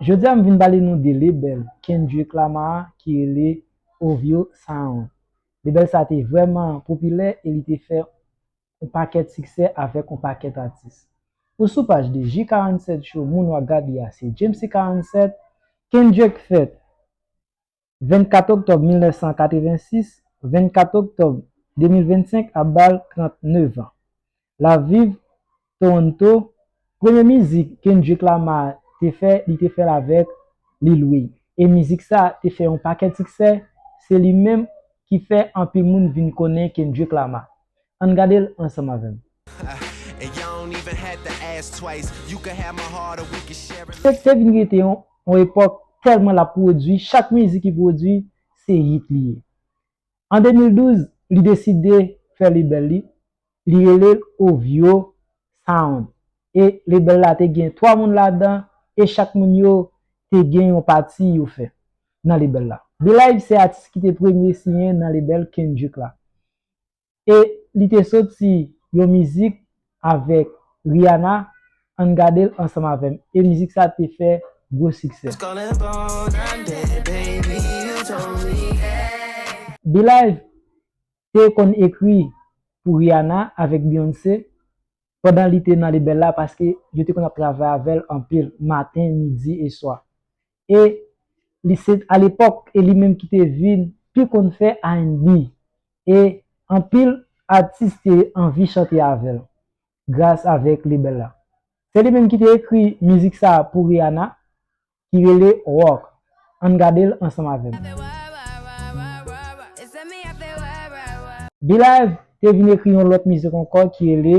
Jodi a m vin pale nou de lebèl Kendrick Lamar ki rele OVO Sound. Lebèl sa te vrèman popilè e li te fè on pakèt siksè avèk on pakèt atis. Ou sou paj 2, J47 Show moun wap gad li a se Djemsy 47, Kendrick fèt. 24 oktòb 1986, 24 oktòb 2025 ap ba l 39 an. L ap viv Toronto. Premye mizik Kendrick Lamar te fè, li te fè l avèk Lil Wayne. E mizik sa a te fè yon pakèt siksè, se li menm ki fè anpil moun vin konnen Kendrick Lamar. Ann gade l ansanm avè m. Fedh te vin rete yon epòk tèlman l ap pwodui, chak mizik li pwodui se hit li ye. An 2012, li deside fè lebèl li, li rele l OVO Sound e lebèl la te gen 3 moun ladan e chak moun yo te gen yon pati yo fè nan lebèl la. Belive se atis ki te premye siyen nan lebèl Kendrick la. e li te soti yon mizik avèk Rihanna ann gadel ansanm avèm e mizik sa te fè gwo siksè. Belive te konn ekri pou Rihanna avèk Beyoncé pandan li te nan lebèl la paske yo te konn ap travay avèl anpil maten, midi e swa. e li se t alepòk e li menm ki te vin pi konn fè rnb e anpil atis te anvi chante avèl gras avèk lebella se li menm ki te ekri mizik sa pou Rihanna ki rele Rock ann gadel ansanm avèm. Bee-live te vin ekri yon lòt mizik ankò ki rele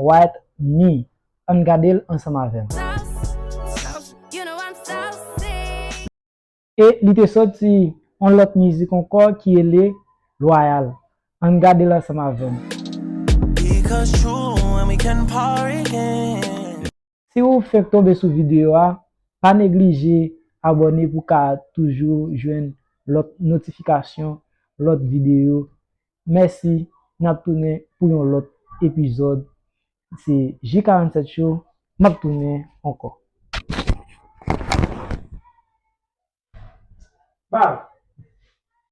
White Me Ann gade l ansanm avè m. E li te soti yon lòt mizik ankò ki rele Loyal. Ann gade l ansanm avè m. Si ou fenk tonbe sou videyo a, pa neglije abòne pou w ka toujou jwenn lòt notifikasyon lòt videyo Mèsi nap tounen pou yon lòt epizòd se ji 47 show map tounen ankò. Bal!